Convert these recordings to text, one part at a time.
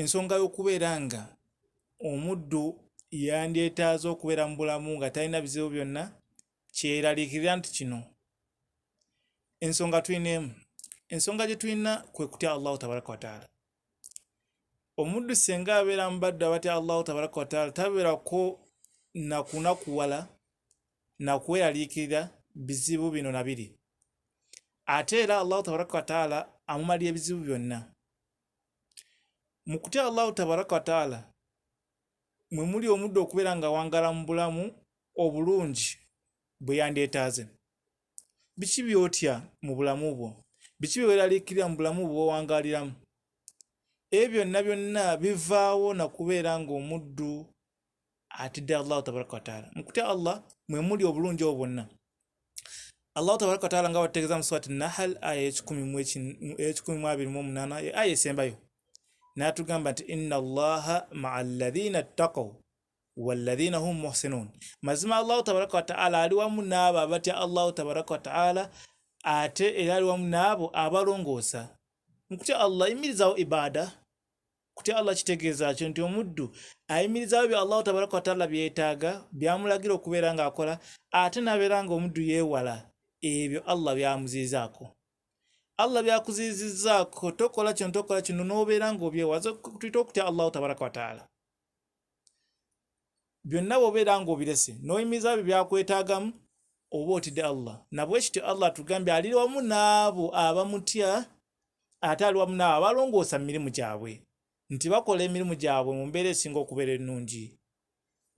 ensonga y'okubeera nga omuddu yandyetaaze okubeera mu bulamu nga talina bizibu byonna kyeraliikirira nti kino ensonga tulina emu ensonga gye tulina kwe kutya allahu tabaraka wataala omuddu senga abeera mubaddu abatya allahu tabaraka wataala tabeerako nakunakuwala nakweraliikirira bizibu bino na biri ate era allahu tabaraka wataala amumalira ebizibu byonna mu kutya allahu tabaraka wataala mwe muli omudde okubeera nga wangala mu bulamu obulungi bwe yandyetaaze biki byotya mu bulamu bwo biki byeweraliikirira mu bulamu bwe wewangaaliramu ebyo byonna byonna bivaawo na kubeera ng'omuddu atidde allahu tabaraka wataala mukutya allah mwe muli obulungi obwo bwonna allahu tabaraka wataala nga batutegeeza mu swati nahal aya eyekikumi mu abiri mu omunaana aya esembayo n'atugamba nti inna allaha maa ladhina ttaqaw walladhina hum muhsinun mazima allahu tabaraka wataala ali wamu n'abo abatya allahu tabaraka wataala ate era ali wamu n'abo abalongoosa mukutya allah imirizawo ibaada kutya allah kitegeeza kyo nti omuddu ayimirizaawo bya allahu tabaraka wataala byetaaga byamulagira okubeera ng'akola ate nabeera nga omuddu yeewala ebyo allah byamuziizaako allah byakuziizizaako tokola kino tokola kino n'obeera ng'obyewaza tuyita okutya allahu tabaraka wataala byonna bwobeera ng'obirese n'oyimiriza byo byakwetaagamu oba otidde allah nabwekityo allah atugambye aliri wamu n'abo abamutya ate ali wamu n'abo abalongoosa mu mirimu gyabwe nti bakola emirimu gyabwe mu mbeera esinga okubeera ennungi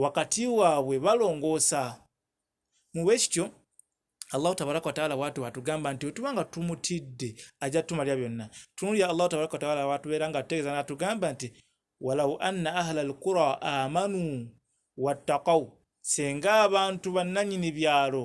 wakati waabwe balongoosa mu bwe kityo allahu tabaraka wataala watu atugamba nti otuba nga tumutidde ajja tumalira byonna tunulya allahu tabaraka wataala watubeera nga tutegeeza natugamba nti walau anna ahla alqura amanu wattakau senga abantu bannanyini byalo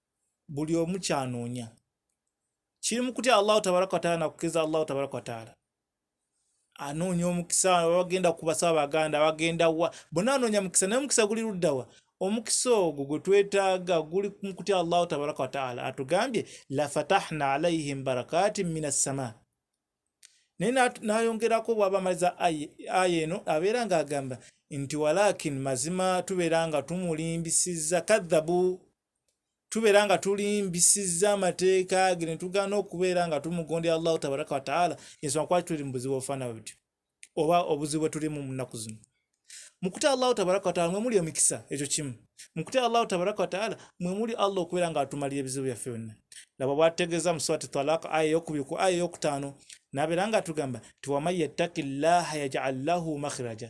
buli omu kyanoonya kiri mu kutya allahu tabaraka wataala nakukiriza allahu tabaraka wataala anoonya omukisa abagenda kubasa abaganda abagenda wa bona anoonya mukisa naye omukisa guli luddawa omukisa ogwo gwe twetaaga guli mu kutya allahu tabaraka wataala atugambye lafatahna alaihim barakatin min assama naye nayongerako bwaba amaliza aya eno abeera nga agamba nti walakin mazima tubeera nga tumulimbisiza kadhabu tubeera nga tulimbisizza amateeka ge ne tugaana okubeera nga tumugondera allahu tabaraka wataala ensonga kwaki tuli mu buzibu obufaana butyo oba obuzibu bwe tulimu mu nnaku zino mukutya allahu tabaraka wataala mwe muli emikisa ekyo kimu mukutya allahu tabaraka wataala mwe muli allah okubeera nga atumalira ebizibu byaffe byonna laba bwategeeza mu swati talak aya eyokubiri ku aya eyokutaano nabeera nga atugamba ti waman yattaki llaha yajal lahu makhiraja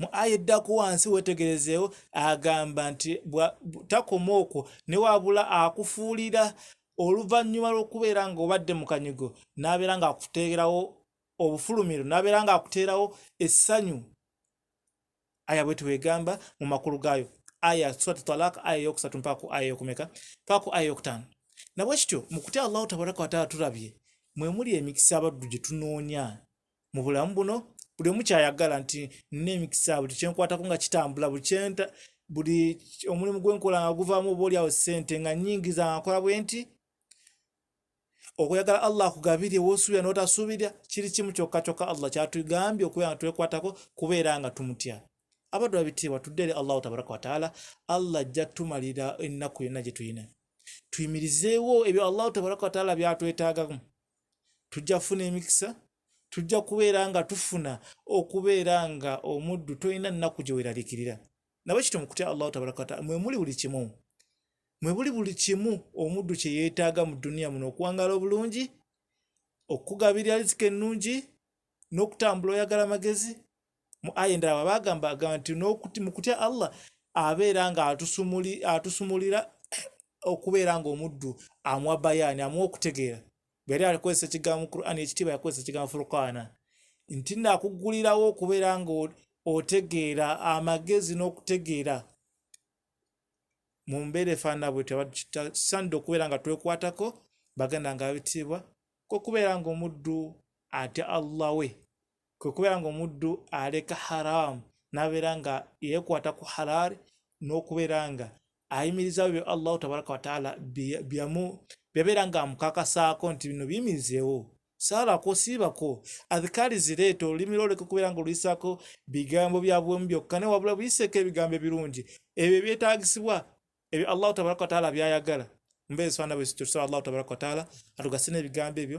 mu aya eddako wansi wetegerezeewo agamba nti takoma okwo ne wabula akufuulira oluvannyuma lw'okubeera nga obadde mu kanyigo n'abeera ng'akuteerawo obufulumiro n'abeera ng'akuteerawo essanyu aya bwe twegamba mu makulu gaayo aya surat talak aya yokusatu mpaaku aya yokumeka paaku aya yokutaano nabwe kityo mu kutya allahu tabaraka wataala tulabye mwe muli emikisa abaddu gye tunoonya mu bulamu buno buli omu kyayagala nti nina emikisa buli kyenkwatako nga kitambula buli kyenta buli omulimu gwenkola nga guvaamu oba olyawo ssente nga nyingiza nga nkola bwe nti okuyagala allah akugabirye wosuubira notasuubirya kiri kimu kyokka kyokka allah kyatugambye okubeera nga twekwatako kubeera nga tumutya abaddu babitiibwa tudde eri allahu tabaraka wataala allah ajja tumalira ennaku yonna gye tulina tuyimirizeewo ebyo allahu tabaraka wataala byatwetaagamu tujja kufuna emikisa tujja kubeera nga tufuna okubeera nga omuddu tolina nnaku gye weeralikirira nabwe kityo mu kutya allahu tabaraka wataala mwe muli buli kimu mwe buli buli kimu omuddu kye yeetaaga mu duniya muno okuwangaala obulungi okukugabirira rizika ennungi n'okutambula oyagala amagezi mu aya endala baba agamba agamba nti mu kutya allah abeera nga atusumulira okubeera nga omuddu amuwa bayaani amuwa okutegeera bweyali alikozesa ekigambo quran ekitiibwa yakozesa ekigambo furkaana nti nakuggulirawo okubeera nga otegeera amagezi n'okutegeera mu mbeera efaanana bwetyo abatukisanidde okubeera nga twekwatako baganda nga babitiibwa kokubeera nga omuddu atya allah we kwe kubeera nga omuddu aleka haramu nabeera nga yekwata ku halaali n'okubeera nga ayimirizawo byo allahu tabaraka wataala byabeera nga amukakasaako nti bino biyimirizeewo saalako siibako adhikaali zireeta olulimi lwoleka okubeera nga oluyisaako bigambo byabuwemu byokka ne wabula buyiseeko ebigambo ebirungi ebyo ebyetaagisibwa ebyo allahu tabaraka wataala byayagala mbeera eswana bwezityo tusaba allahu tabaraka wataala atugase n'ebigambo ebyo